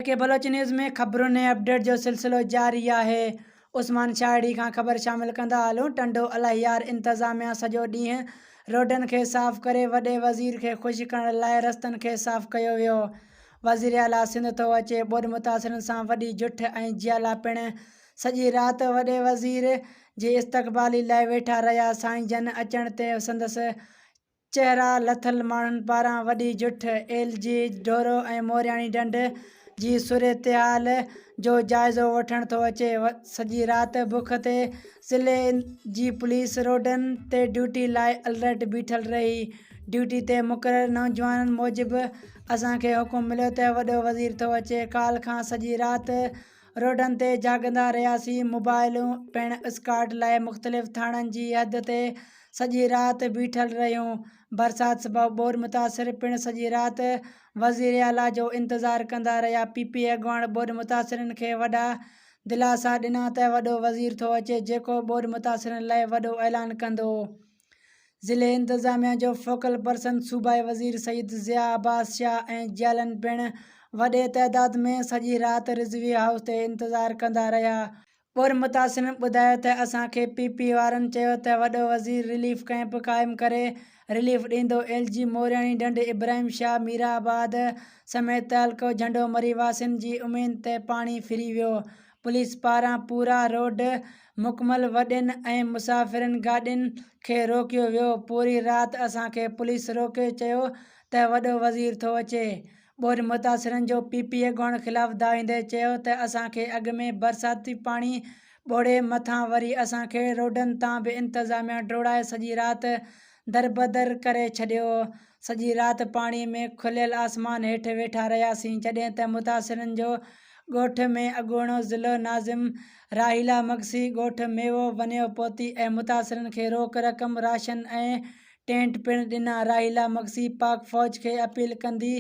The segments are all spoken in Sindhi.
ڪي بلوچ نيوز ۾ خبرن ۽ اپڊيٽ جو سلسلو جاري آهي عثمان شاهڙي کان خبر شامل ڪندا هلون ٽنڊو الاهيار انتظاميا سڄو ڏينهن روڊن کي صاف ڪري وڏي وزير کي خوش ڪرڻ لاء رستن کي صاف ڪيو ويو وزيراعليٰ سنڌ ٿو اچي ٻوڏ متاثرن سان وڏي جٺ ۽ جيالا پڻ سڄي رات وڏي وزير جي استقبالي لاء ويٺا رهيا. سائين جن اچڻ تي سندس چهرا لٿل ماڻهن پاران وڏي جٺ، ايل جي ڍورو ۽ مورياڻي ڍنڍ جي صورتحال جو جائزو وٺڻ ٿو اچي. سڄي رات بک تي ضلعي جي پوليس روڊن تي ڊيوٽي لاء الرٽ بيٺل رهي. ڊيوٽي تي مقرر نوجوانن موجب اسان کي حڪم مليو ته وڏو وزير ٿو اچي. ڪالهه کان سڄي رات روڊن تي جاڳندا رهياسين، موبائلون پڻ اسڪارڊ لاء مختلف ٿاڻن جي حد تي سڄي رات بيٺل رهيون، برسات سبب ٻوڏ متاثر پڻ سڄي رات وزيراعليٰ جو انتظار ڪندا رهيا، پي پي اڳواڻ ٻوڏ متاثرن کي وڏا دلاسا ڏنا ته وڏو وزير ٿو اچي جيڪو ٻوڏ متاثرن لاء وڏو اعلان ڪندو. ضلعي انتظاميا جو فوڪل پرسن صوبائي وزير سيد ضياء عباس شاهه ۽ جيالن پڻ وڏي تعداد ۾ سڄي رات رضوي هائوس تي انتظار ڪندا رهيا، پوء متاثرن ٻڌايو ته اسان کي پي پي وارن چيو ته وڏو وزير رليف ڪئمپ قائم ڪري رليف ڏيندو، ايل جي مورياڻي ڍنڍ، ابراهيم شاهه، ميرآباد سميت تعلقو جهنڊو مري واسين جي اميد تي پاڻي ڦري ويو، پوليس پاران پورا روڊ مڪمل وڏين ۽ مسافرين گاڏين کي روڪيو ويو، پوري رات اسان کي پوليس روڪي چيو ته وڏو وزير ٿو اچي، ٻوڏ متاثرن جو پي پي اڳواڻ خلاف دانهيندي چيو ته اسان کي اڳ ۾ برساتي پاڻي ٻوڙي مٿان وري اسان کي روڊن تان به انتظاميا ڊوڙائي سڄي رات دربدر ڪري ڇڏيو. سڄي رات پاڻي ۾ کليل آسمان هيٺ ويٺا رهياسين، جڏهن ته متاثرن جو ڳوٺ ۾ اڳوڻو ضلعو ناظم راحيلا مگسي ڳوٺ ميوو ونيو پهتي ۽ متاثرن کي روڪ رقم، راشن ۽ ٽينٽ پڻ ڏنا. راحيلا مگسي پاڪ فوج کي اپيل ڪندي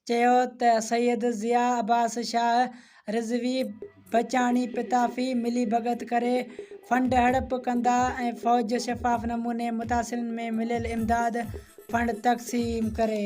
چيو ته سيد ضياء عباس شاهه، رضوي بچاڻي پتافي ملي ڀڳت ڪري فنڊ هڙپ ڪندا ۽ فوج شفاف نموني متاثرين ۾ مليل امداد فنڊ تقسيم ڪري.